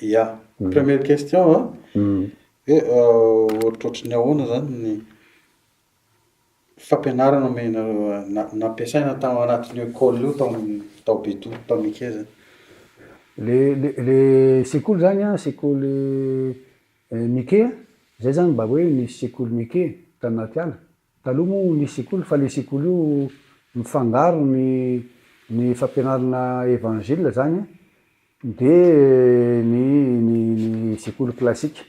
Ya, première question a, hoe ohatrohatry ny ahoana zany ny fampianarana omenareo na nampiasaina tao anatin'io ecole io tao tao Betodlo tao Mike zany? Le le le sekoly zany a, sekoly Mike a, zay zany mba hoe nisy sekoly Mike tanaty ala, Taloha moa nisy sekoly fa le sekoly io mifangaro ny ny fampianarana evangile zany a de ny ny ny sekoly classique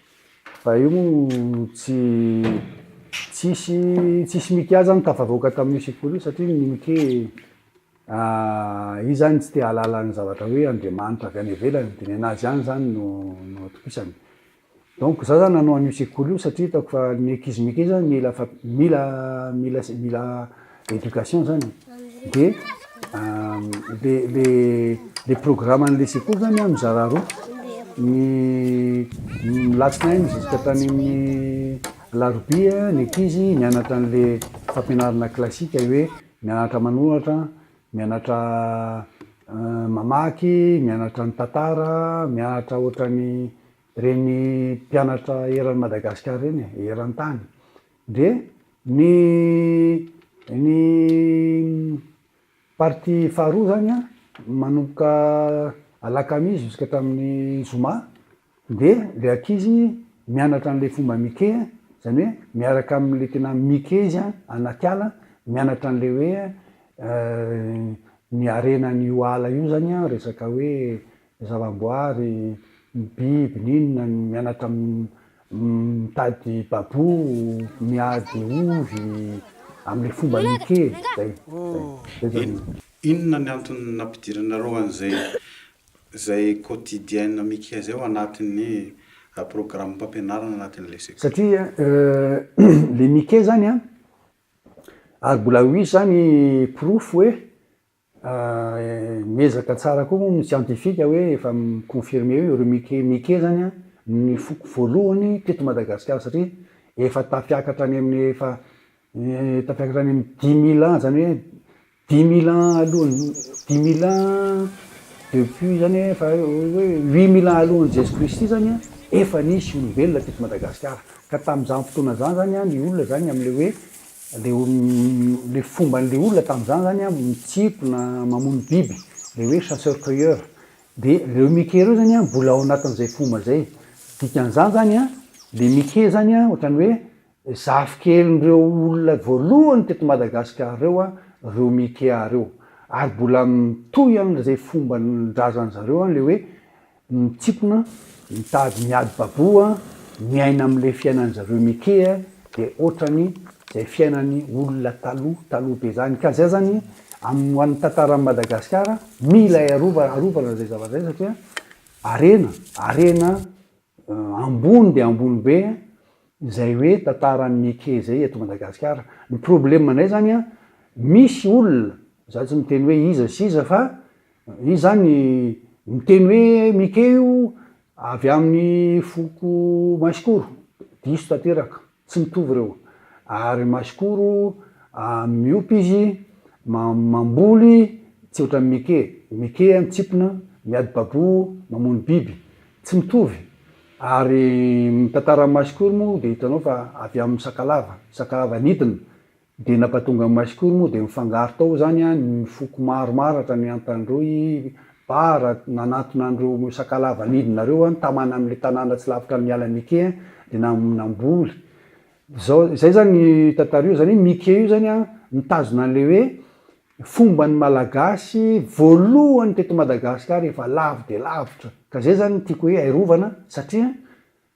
fa io moa tsy tsisy tsisy mike zany tafavoaka tamin'io sekoly io satria ny mike izy zany tsy te hahalala ny zavatra hoe Andriamanitra avy any ivelany de ny anazy ihany zany no no atokisany Donc za zany nanao an'io sekoly io satria hitako fa ny ankizy mikia zany mila mila mila mila éducation zany de le le le programme an'le sekoly zany a mizara roa ny ny latsinainy jusqu'à tany amin'ny alarobia ny ankizy mianatra an'le fampianarana classique hoe mianatra manoratra Mianatra mamaky, mianatra ny tantara, mianatra ohatran'ny ireny mpianatra eran'i Madagasikara ireny e, eran-tany. Dia ny ny partie faharoa izany an, manomboka alakamisy juska hatramin'ny zoma. Dia ilay ankizy mianatra an'ilay fomba mike, izany hoe miaraka amin'ilay tena mike izy an, anaty ala, mianatra an'ilay hoe ny harenan'io ala io izany an, resaka hoe zava-boary, ny biby, ny inona, mianatra mitady babou, miady ovy, amin'ilay fomba mike, izay. Eny, inona ny antony nampidiranareo an'izay izay quotidienne Mickey izay ao anatin'ny programam-pampianarana anatin'ilay sekoly. Satria ilay Mickey izany an, ary mbola ho hisy izany porofo hoe miezaka tsara koa moa ny siantifika hoe efa mi-confirmer hoe ireo Mickey Mickey izany an no ny foko voalohany teto Madagasikara satria efa tafiakatra any amin'ny efa tafiakatra any amin'ny dix mille ans izany hoe Dimy mille ans alohan'ny, dimy mille ans depuis zany efa hoe huit mille ans alohan'i Jeso Kristy zany an, efa nisy olombelona teto Madagasikara. Ka tamin'izany fotoana izany zany an, ny olona zany amin'ilay hoe, le le fomban'ilay olona tamin'izany zany an, mitsiko na mamono biby, le hoe chasseur cueilleur. De reo mike reo zany an, mbola ao anatin'izay fomba zay. Dikan'izany zany an, le mike zany an, ohatran'ny hoe, Zafikelindreo olona voalohany teto Madagascar reo an reo Mikea reo. Ary mbola mitohy an ze fomba ndrazan zareo an le hoe mitsipona, mitady miady babo an, miaina am le fiainan zareo Mikea de otrany zay fiainany olona taloha taloha be zany. Ka zay zany am ho an tantaran Madagascar mila arovana arovana zay zavatra zay satria harena harena ambony dia ambony be izay hoe tantaran'i Mike izay eto Madagasikara. Ny problemanay izany an, misy olona, za tsy miteny hoe iza sy iza fa izy izany miteny hoe Mike io avy amin'ny foko Masikoro, diso tanteraka. Tsy mitovy ireo. Ary masikoro a miompy izy, ma mamboly, tsy ohatran'ny mike. Mike a mitsipona, miady babo, mamono biby. Tsy mitovy. Ary ny tantaran'ny masikoro moa dia hitanao fa avy amin'ny sakalava. Sakalava nidina. Dia nampatonga ny Maiscour moa dia nifangaro tao izany ny foko maro maratra, ny Antandroy, Bara, nanatona an'ireo Sakalava nidina ireo, nitamana amin'ilay tanàna tsy lavitra an'i Mialamike, dia namboly. Izao, izay izany tantara io, izany hoe Mike io izany mitazona an'ilay hoe fomban'ny Malagasy voalohany teto Madagasikara efa lavo dia lavitra. Ka izay izany no tiako hoe airovana satria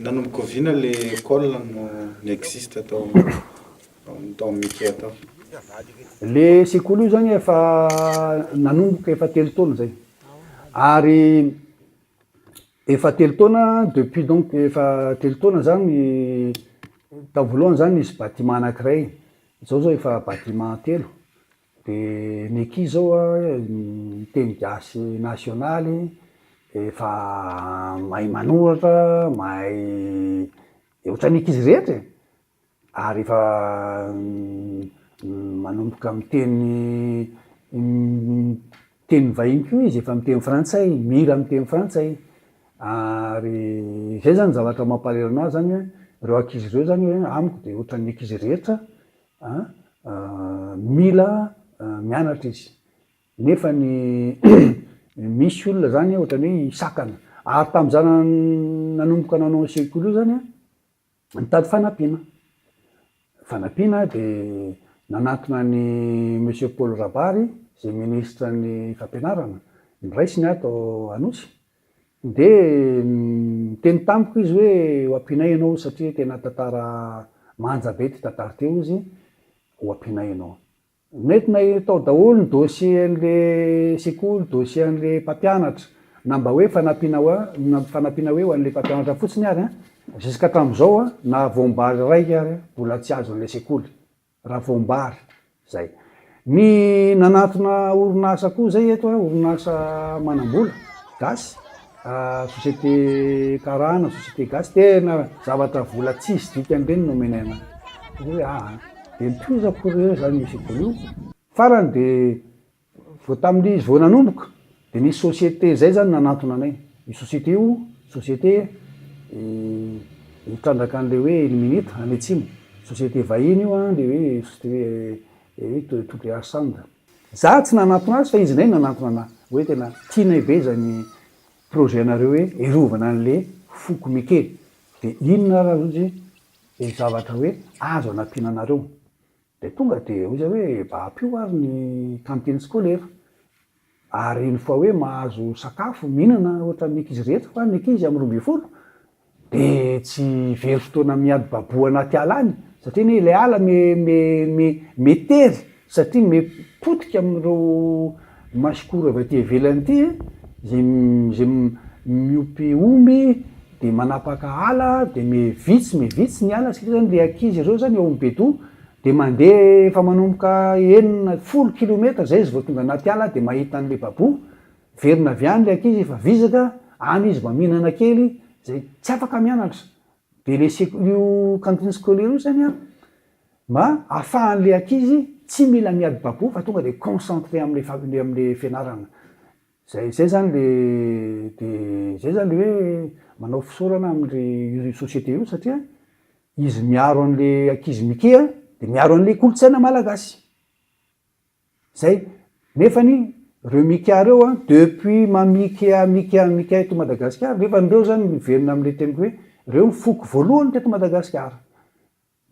Nanomboka oviana le col no ni-existe tao tao amin'ny Ikea tao? Le sekoly io zany efa nanomboka efa telo taona zay ary efa telo taona depuis donc efa telo taona zany tao voalohany zany nisy bâtiment anakiray zao zao efa bâtiment telo De ny eky zao a ny teny gasy nasionaly efa mahay manoratra mahay de ohatran'ny ankizy rehetra e ary efa manomboka miteny teny vahiny koa izy efa miteny frantsay mila miteny frantsay ary zay zany zavatra mampahalelo anazy zany hoe reo ankizy reo zany hoe amiko de ohatran'ny ankizy rehetra mila mianatra izy nefa ny misy olona zany ohatrany hoe hisakana ary tamza nanomboka nanao ny sekoly io zany nitady fanampiana fanampiana de nanantona ny monsieur Paul Rabary ze ministre ny fampianarana ny raisiny ato anosy Dia niteny tamiko izy hoe, Ho ampianay ianao satria tena tantara manja be ity tantara ity, hoy izy, ho ampianay ianao. Mety natao daholo ny dossier-n'ilay sekoly, dossier-n'ilay mpampianatra, na mba hoe fanampiana ho an, fanampiana hoe ho an'ilay mpampianatra fotsiny ary an, jusqu'à hatramin'izao an, na voam-bary iray ary an, mbola tsy azon'ilay sekoly. Ravoambary zay. Ny nanatona orinasa koa zay eto a, orinasa manambola gasy, société karana, société gasy, tena zavatra vola tsisy dikany reny no omenay anay. Dia hoe aa, dia nitohizako ry zareo zany misy vola io, farany dia Vao tamin'ny vao nanomboka dia nisy société izay izany nanantona anay. Io société io, société mitrandraka an'ilay hoe Illuminate any atsimo. Société vahiny io an, ilay hoe société hoe WR Sound. Izaho tsy nanantona azy fa izy indray no nanantona anà. Hoe tena tianay be izany projet-nareo hoe hiarovana an'ilay foko mike. Dia inona ary azy io dia zavatra hoe azo anampiana anareo. Dia tonga dia hoy izahay hoe mba ampio ary ny cantine scolaire ary une fois hoe mahazo sakafo, mihinana ohatran'ny ankizy rehetra fa ny ankizy amin'ny roa ambin'ny folo dia tsy very fotoana miadi-baboa anaty ala any satria anie ilay ala me me me me tery satria me potika amin'ireo Masikoro avy aty ivelany ity e, izay izay miompy omby dia manapaka ala dia me vitsy me vitsy ny ala satria zany le ankizy ireo zany ao am bedoha dia mandeha efa manomboka enina folo kilometatra zay izy vao tonga anaty ala dia mahita anle baboha miverina avy any le ankizy efa vizaka any izy mba mihinana kely zay tsy afaka mianatra dia le sek- io cantine scolaire io zany an Mba afahan'ilay ankizy tsy mila miady babo fa tonga dia concentré amin'ilay fa amin'ilay fianarana. Izay izay izany ilay dia izay izany ilay hoe manao fisaorana amin'ilay io société io satria izy miaro an'ilay ankizy mikie dia miaro an'ilay kolontsaina malagasy. Izay. Nefany ireo mikia ireo an, depuis mamikia mikia mikia eto Madagasikara, nefany ireo izany miverina amin'ilay teniko hoe ireo ny foko voalohany teto Madagasikara.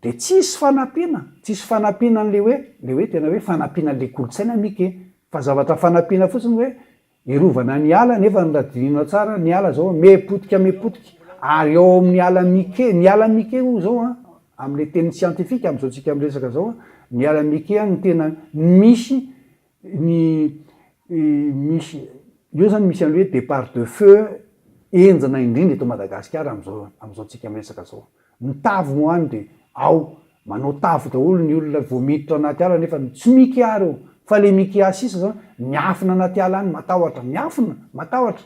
Dia tsisy fanampiana, tsisy fanampiana an'ilay hoe, ilay hoe tena hoe fanampiana an'ilay kolontsaina mika e! Fa zavatra fanampiana fotsiny hoe hiarovana ny ala nefa raha dinihinao tsara ny ala zao me potika me potika ary ao amin'ny ala mike, ny ala mike hoy zao an, amin'ilay teny siantifika amin'izao tsika miresaka zao an, ny ala mike an no tena misy Ny misy eo zany misy an'le hoe depart de feu henjana indrindra eto Madagasikara amin'izao amin'izao tsika miresaka zao. Ny tavy moa any de ao manao tavy daholo ny olona vao miditra anaty ala nefa ny tsy miky ary eo fa le miky sisa zao miafina anaty ala any matahotra miafina matahotra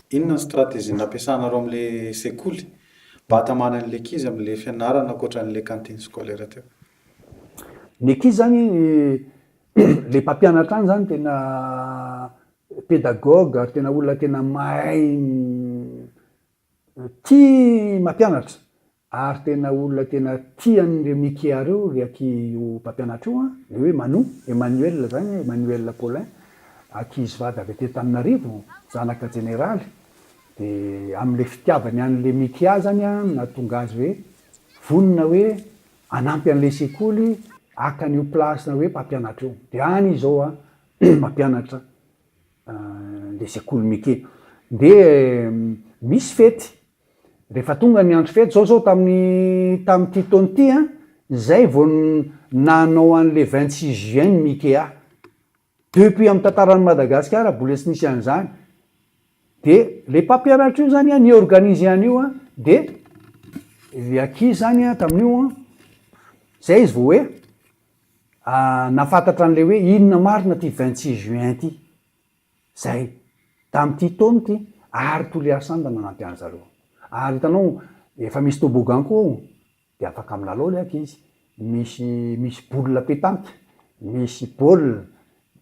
Inona ny stratégie nampiasanareo amin'le sekoly mba hatamana an'le ankizy amin'le fianarana ankoatra an'le cantine scolaire teo? Ny ankizy zany le mpampianatra any zany tena pédagogue ary tena olona tena mahay tia mampianatra Ary tena olona tena tian'ireo Mikea ireo ry aky io mpampianatra io an, le hoe Manu, Emmanuel zany, Emmanuel Paulin, ankizivady avy aty Antananarivo, zanaka jeneraly, de amle fitiavany anle Mikea zany an no nahatonga azy hoe vonona hoe hanampy anle sekoly haka an'io place-na hoe mpampianatra io, de any izy zao an mampianatra le sekoly Mikea. De misy fety. Rehefa tonga ny andro fety, izao izao tamin'ny tamin'ity taona ity an, izay vao nanao an'ilay vingt six juin ny Mikea. Depuis amin'ny tantaran'i Madagasikara mbola tsy nisy an'izany. Dia ilay mpampianatra io izany an, ni-organiser an'io an, dia ilay ankizy izany an, tamin'io an, izay izy vao hoe nahafantatra an'ilay hoe inona marina ity vingt six juin ity. Izay. Tamin'ity taona ity ary Toliary Sand no nanampy an-dry zareo. Ary hitanao, efa misy toboggan koa ao, dia afaka milalao ilay ankizy. Misy, misy boule petanque, misy baolina,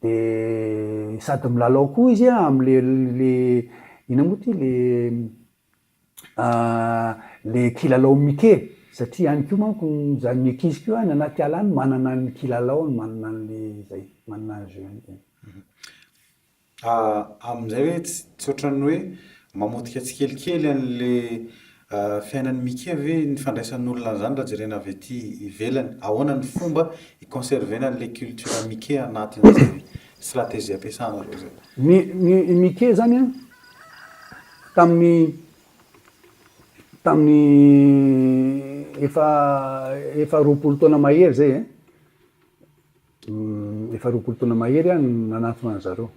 dia sady milalao koa izy amin'ilay, ilay, inona moa ity, ilay. le kilalao Mickey satria any koa manko zany ny ankizy koa any anaty ala any manana ny kilalaony, manana an'le zay, manana ny jeu-ny zany. Amin'izay hoe tsy ohatran'ny hoe mamotika tsikelikely an'le fiainan'i Mickey ve ny fandraisan'olona an'izany raha jerena avy aty ivelany? Ahoana ny fomba hi-conserver-na an'le culture Mickey anatin'izay stratégie ampiasanareo zay? Ny Mickey zany an, tamin'ny tamin'ny efa efa roapolo taona mahery zay e eh. Efa roapolo taona mahery aho no nanatona an'i zareo.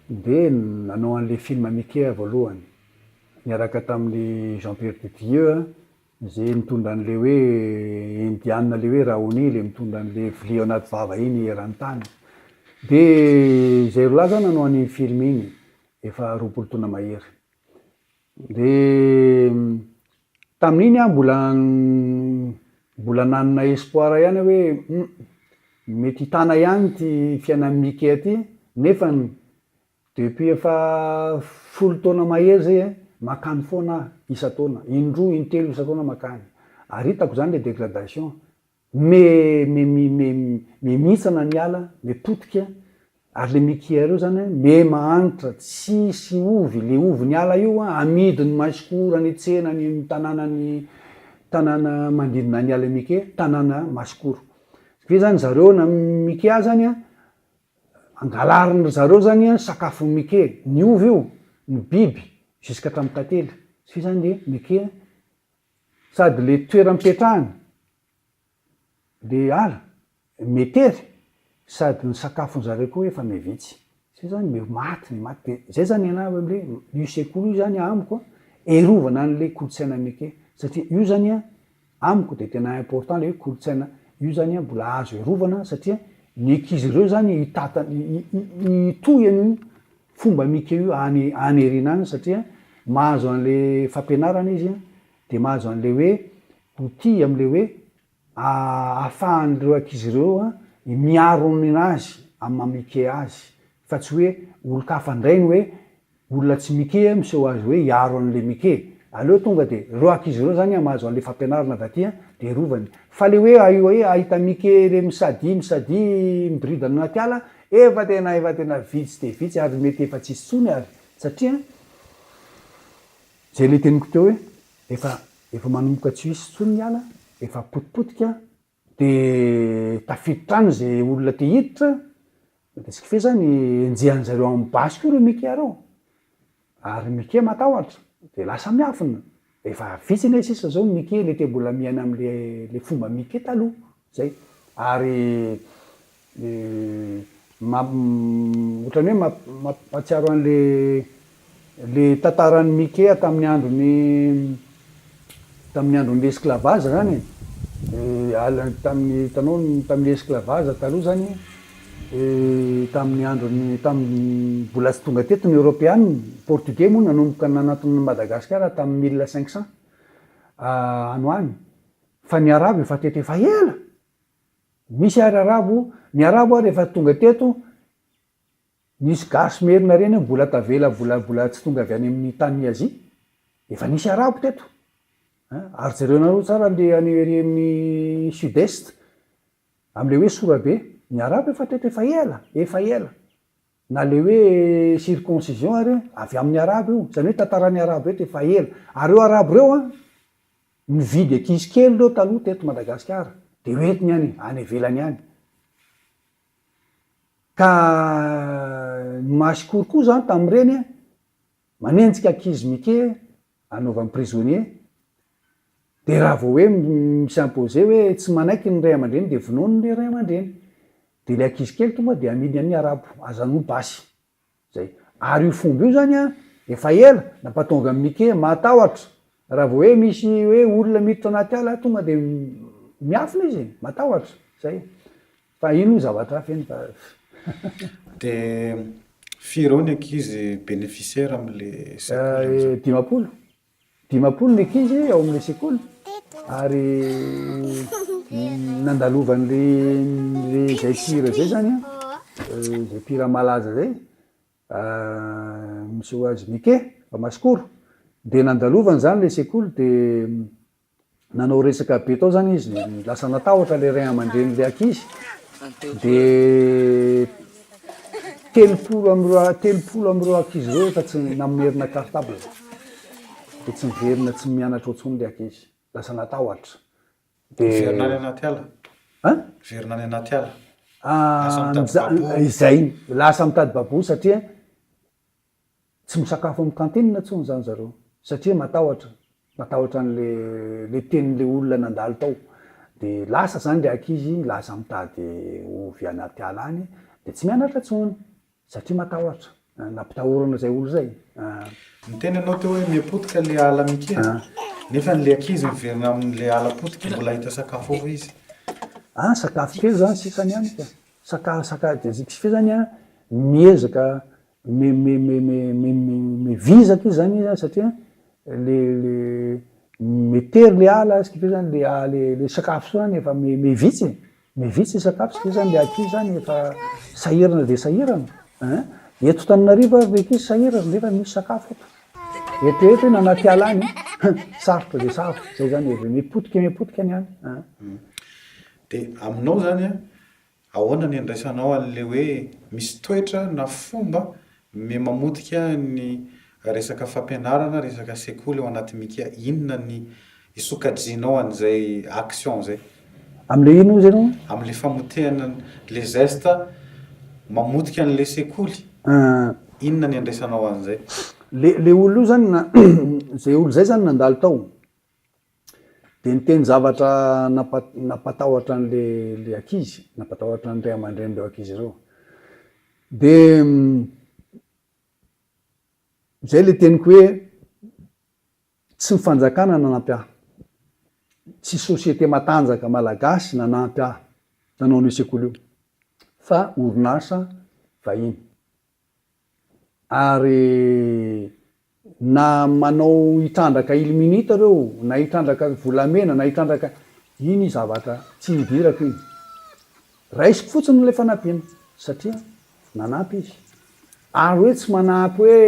Dia nanao an'ilay film Mickey aho voalohany, niaraka tamin'i Jean Pierre de Dieu a, izay mitondra an'ilay hoe Indiana ilay hoe Raoni, ilay mitondra an'ilay vilia ao anaty vava iny eran-tany. Dia izay roa lahy zany nanao an'iny film iny. efa roapolo taona mahery. Dia tamin'iny aho mbola mbola nanana espoir ihany aho hoe hum, mety hitana ihany ity fiainan'i Mickey aty nefa depuis efa folo taona mahery izay eh, makany foana aho isan-taona, in-droa in-telo isan-taona makany. Ary hitako izany ilay dégradation, Me, me, mi, me, me mihitsana ny ala, me potika, ary le mi kia reo zany an, me mahanitra, tsisy ovy, le ovy ny ala io an, amidy ny maisiko ora ny tsena ny tanàna ny tanàna manodidina ny ala mi ke, tanàna masikoro. Ve zany zareo na mi kia zany an, angalarin ry zareo zany an sakafo mi ke, ny ovy io, ny biby, jusqu'à hatramin'ny tantely, ve zany le mi kia? Sady le toeram petrahany le ala metery sady ny sakafon zareo koa efa mevitsy zay zany me maty ny maty de zay zany ianao hoe le io sekoly io zany amiko an erovana any le kolotsaina meke satria io zany an amiko de tena important le hoe kolotsaina io zany an mbola azo erovana satria ny ankizy reo zany hitatany hitohy anio fomba mika io any any aoriana any satria mahazo an'le fampianarana izy a, de mahazo an'le hoe outil am'le hoe ahafahan'ireo ankizy ireo a miaro ninazy amin'ny maha mike azy fa tsy hoe olon-kafa ndray ny hoe olona tsy mike a miseho azy hoe hiaro an'le mike, aleo tonga de reo ankizy reo zany a mahazo an'le fampianarana avy aty a de rovany, fa le hoe ahita mike re misadia misadia miboridana anaty ala Efa tena efa tena vitsy dia vitsy ary mety efa tsisy tsony ary satria zay le teniko teo hoe efa efa manomboka tsy hisy tsony ny ala efa potipotika de tafiditra any zay olona te hiditra de ce qui fait zany enjehan'zareo amin'ny basy koa reo mika reo Ary Mike matahotra dia lasa miafina, efa vitsy anie sisa zao Mike le te mbola miaina amle le fomba Mike taloha zay ary otrany hoe mampatsiaro anle le tantarany Mike taminy androny Tamin'ny andron'ny l'esclavage zany e, tamin'ny hitanao tamin'ny esclavage taloha zany tamin'ny andron'ny tamin'ny mbola tsy tonga teto ny europeana, ny portugais moa nanomboka nanatona an'i Madagasikara tamin'ny mille cinq cents any ho any fa ny arabo efa teto efa ela, misy ary arabo, ny arabo ary efa tonga teto, Nisy gasy merina reny mbola tavela mbola mbola tsy tonga avy any amin'ny tanin'i Azia? Efa nisy arabo teto an! Ary jereonareo tsara an'le any ery amin'ny sud est amin'le hoe sorabe, ny arabo efa teto efa ela, efa ela. Na le hoe circoncision ary avy amin'ny arabo io, zany hoe tantaran'ny arabo eto efa ela. Ary reo arabo reo an, nividy ankizy kely reo taloha teto Madagasikara, de hoentiny any, any ivelany any. Ka ny maha sikory koa zany tamin'ireny, manenjika ankizy mike anaovany prisonnier, dia raha vao hoe mi-s'imposer hoe tsy manaiky ny ray aman-dreny dia vonoiny ilay ray aman-dreny, dia ilay ankizy kely tonga dia amidy amin'ny arabo, aza anao basy, Zay. Ary io fomba io zany an, efa ela, nampatonga an'i Mike matahotra. Raha vao hoe misy hoe olona miditra anaty ala, tonga dia miafina izy e, matahotra. Zay. Fa iny hoy zavatra hafa iny fa. Dia firy eo ny ankizy beneficiaires amin'ilay secours amin'izao? Dimampolo. Dimampolo ny ankizy ao amin'ilay sekoly ary nandalovan'ilay ilay izay mpihira izay zany izay mpihira malaza izay misy ho azy Mike Bamasikoro dia nandalovany zany ilay sekoly dia nanao resaka be tao zany izy lasa natahotra le ray aman-dreny le ankizy de telopolo am'ireo telopolo am'ireo ankizy ireo efa tsy namerina cartable de tsy miverina tsy mianatra otsony le ankizy lasa natahotra de miverina any anaty ala a miverina any anaty ala ah, izay lasa mitady babosy satria Tsy misakafo amin'ny kantinina intsony izany zareo satria matahotra, matahotra an'ilay ilay tenin'ilay olona nandalo tao. Dia lasa izany ilay ankizy, lasa mitady ovy any anaty ala any, dia tsy mianatra intsony satria matahotra, nampitahorana izay olona izay an! Niteny ianao teo hoe miha-potika ilay ala mikia, nefa ilay ankizy miverina amin'ilay ala potika, mbola hahita sakafo ao ve izy? An, sakafo kely izany sisa ny any ka! Sakafo, sakafo, dia izy ve izany an, miezaka, me vizaka izy zany izy satria le le metery le ala ce qui fait zany le ah, le le sakafo soa zany efa me me vitsy me vitsy sakafo ce qui fait zany le aty zany efa sahirana de sahirana ein eto tananarivo ary reky izy sahirana nefa misy sakafo eto eto eto iny anaty ala any sarotra de sarotra zay zany e me potika me potika ny any ein de aminao zany a Ahoana ny andraisanao an'ilay hoe misy toetra na fomba me mamotika ny resaka fampianarana, resaka sekoly ao anaty Mika? Inona ny isokajianao an'izay action izay? Amin'ilay inona hozy ianao? Amin'ilay famotehana le zesta mamotika an'ilay sekoly. Inona ny andraisanao an'izay? Le olona io zany na izay olona izay zany nandalo tao. Dia niteny zavatra nampatahotra an'ilay ankizy, nampatahotra ny ray aman-drenin'ireo ankizy ireo. Dia izay ilay teniko hoe tsy ny fanjakana nanampy ahy, tsy société matanjaka malagasy nanampy ahy nanao an'io sekoly io fa orinasa vahiny. Ary na manao hitrandraka ilminita reo na hitrandraka volamena na hitrandraka iny zavatra tsy hidirako iny raisiko fotsiny ilay fanampiana satria nanampy izy ary hoe tsy manampy hoe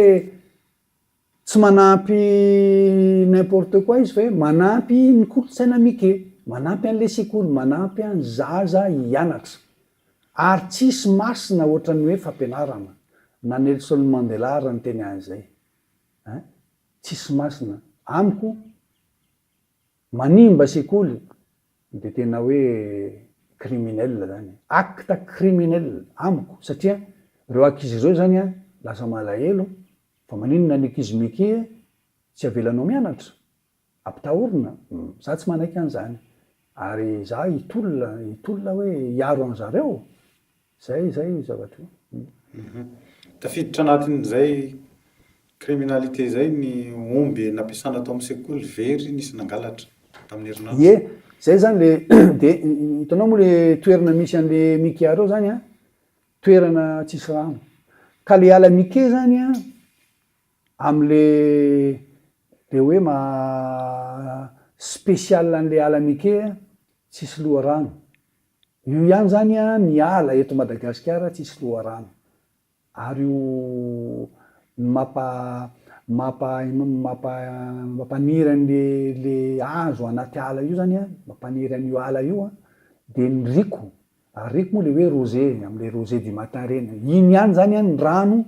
Tsy manampy n'importe quoi izy fa hoe manampy ny kolontsaina mike, manampy an'le sekoly, manampy an'ny zaza hianatra. Ary tsisy masina ohatran'ny hoe fampianarana, na Nelson Mandela ary niteny an'izay. Hein? Tsisy masina. Amiko. Manimba sekoly dia tena hoe criminel zany, acte criminel amiko satria ireo ankizy ireo zany an lasa malahelo fa maninona ny ankizy micky e tsy avelanao mianatra? Ampitahorina? Za tsy manaiky an'izany ary za hitolona hitolona hoe hiaro an'zareo? Izay izay io zavatra io. Tafiditra anatin'izay criminalité izay ny omby nampiasana tao amin'ny sekoly very nisy nangalatra tamin'ny herinandro. Ie, izay izany le dia hitanao moa le toerana misy an'le Mickey areo izany an, toerana tsisy rano. Ka le ala Mickey izany an, amin'le dia hoe maha spécial an'le ala Mickey an, tsisy loharano. Io ihany zany a ny ala eto Madagasikara tsisy loharano ary io no mapa mapa mapa mampaniry anle le hazo anaty ala io zany a mampaniry anio ala io a de ny rico ary rico moa le hoe rose amle rose du matin reny iny ihany zany a ny rano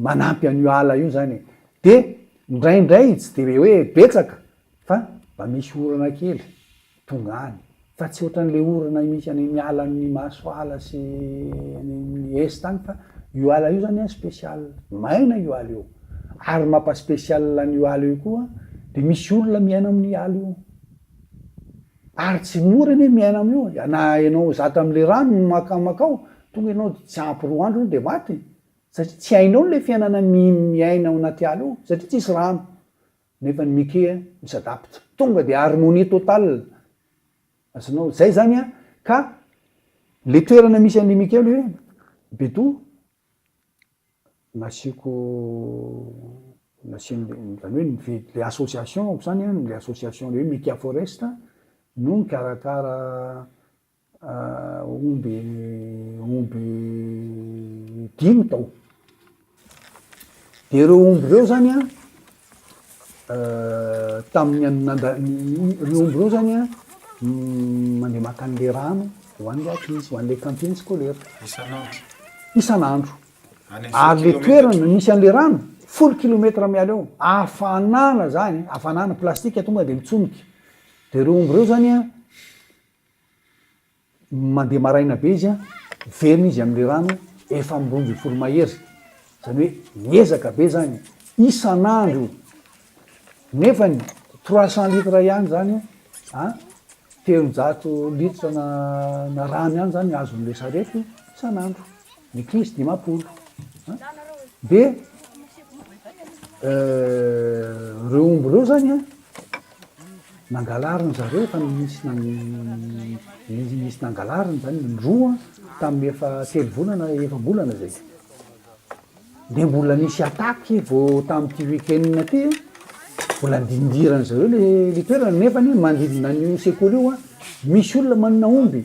manampy an'io ala io zany e! de ndraindray tsy de hoe betsaka fa mba misy orana kely tonga any fa tsy ohatran'le orana misy any amin'ny ala amin'ny masoala sy any amin'ny est any fa io ala io zany an special maina io ala io ary mampa special an'io ala io koa de misy olona miaina amin'ny ala io Ary tsy mora anie miaina amin'io e, na ianao zatra amin'ilay rano no makamakao, tonga ianao dia tsy ampy roa andro ianao dia maty, satria tsy hainao ilay fiainana miaina ao anaty ala ao, satria tsisy rano, nefa ny mike mi-s'adapte, tonga dia harmonie totale, azonao, izay izany an, ka ilay toerana misy an'ilay mike hoe, Beto, Nasiako nasian'le zany hoe nive- le association ko zany an, le association le hoe Mika Forest no mikarakara omby omby dimy tao. De reo omby reo zany an. tamin'ny an'i Nanda, ireo omby ireo izany an, mandeha maka an'ilay rano ho an'ilay ankizy, ho an'ilay cantine scolaire. Isan'andro. Isan'andro. Ary ilay toerana misy an'ilay rano, folo kilomètre miala eo, hafanana izany, hafanana, plastika tonga dia mitsonika. Dia ireo omby ireo izany an, Mandeha maraina be izy an, miverina izy amin'ilay rano efa amin'ny roa ambin'ny folo mahery, izany hoe miezaka be izany isan'andro io, nefany trois cents litres ihany izany io an, telonjato litres na rano ihany izany azon'ilay sarety io isan'andro. ny krizy dimampolo an, de reo omby reo zany an, nangalariny zareo efa nisy nan- nisy nangalariny zany ny roa an, tamin'ny efa telo volana efam-bolana zay, de mbola nisy attaque vao tamin'ity week-end ty an, mbola andindirany zareo le le toerana, nefany manodidina an'io sekoly io an, misy olona manana omby.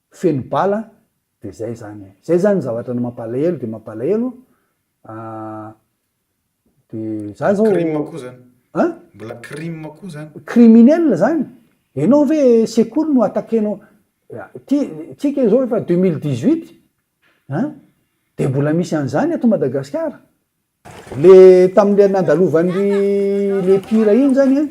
feno bala de zay zany e, zay zany zavatra ny mampalahelo de mampalahelo an, de za zao, crime koa zany, an? mbola crime koa zany, criminel zany, enao ve sekoly no attaquenao, ty tsika zao efa deux mille dix huit an, de mbola misy an'zany eto Madagasikara. Le tamin'le nandalovan'ry le mpihira iny zany an,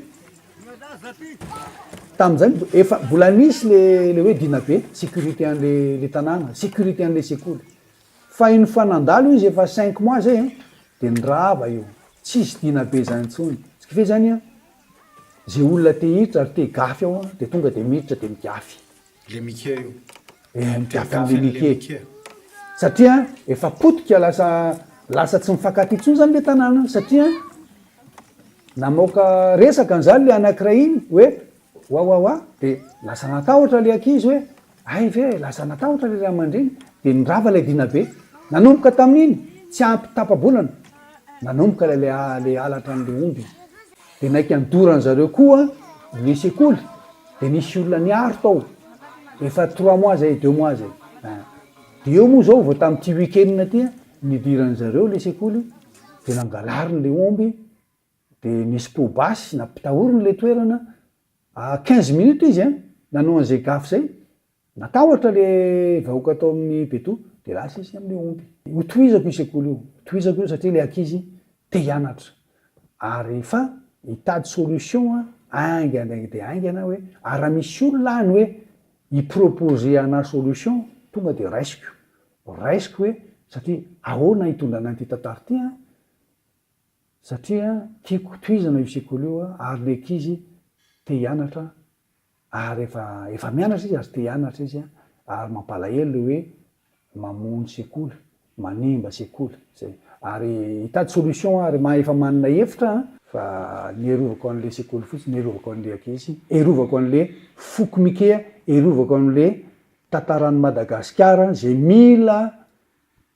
tamin'zay efa mbola nisy le le hoe Dinabe, sécurité an'le le tanàna, sécurité an'le sekoly, fa iny fa nandalo izy efa cinq mois zay an, de nirava io, tsisy Dinabe zany intsony, ce qui fait zany an, ze olona te hiditra ary te higafy ao an, de tonga de miditra de migafy. Le mikia io. Eh ny tafin'le mikia e. Satria efa potika lasa lasa tsy mifankatia intsony zany le tanàna satria namoaka resaka anzany le anakiray iny hoe wawawa de lasa natahotra le ankizy hoe hay ve lasa natahotra le ray aman-dreny de nirava ilay dinabe nanomboka tamin'iny tsy ampy tapa-bolana nanomboka ilay le halatra an'le omby. de naiky any dorany zareo koa ny sekoly de nisy olona niaro tao efa trois mois zay deux mois zay de eo moa zao vao tamy ty week-end aty an nidirany zareo le sekoly de nangalariny le omby de nisy po basy nampitahoriny le toerana à quinze minutes izy an nanao an'izay gafy zay Natahotra le vahoaka tao amin'ny Beto de lasa izy amin'ny omby. Ho tohizako io sekoly io, ho tohizako io satria le ankizy te hianatra ary fa hitady solution haingana dia haingana hoe ary raha misy olona any hoe hi proposer anah solution tonga de raisiko, raisiko hoe satria ahoana hitondra anah ity tantara ity an, satria tiako tohizana io sekoly io ary le ankizy te hianatra. Ary efa efa mianatra izy ary te hianatra izy an! ary mampalahelo le hoe mamono sekoly, manimba sekoly, zay. Ary hitady solution ary ma efa manana hevitra an! Fa ny hiarovako anle sekoly fotsiny, hiarovako anle ankizy, hiarovako anle foko mike, hiarovako anle tantaran'i Madagasikara, ze mila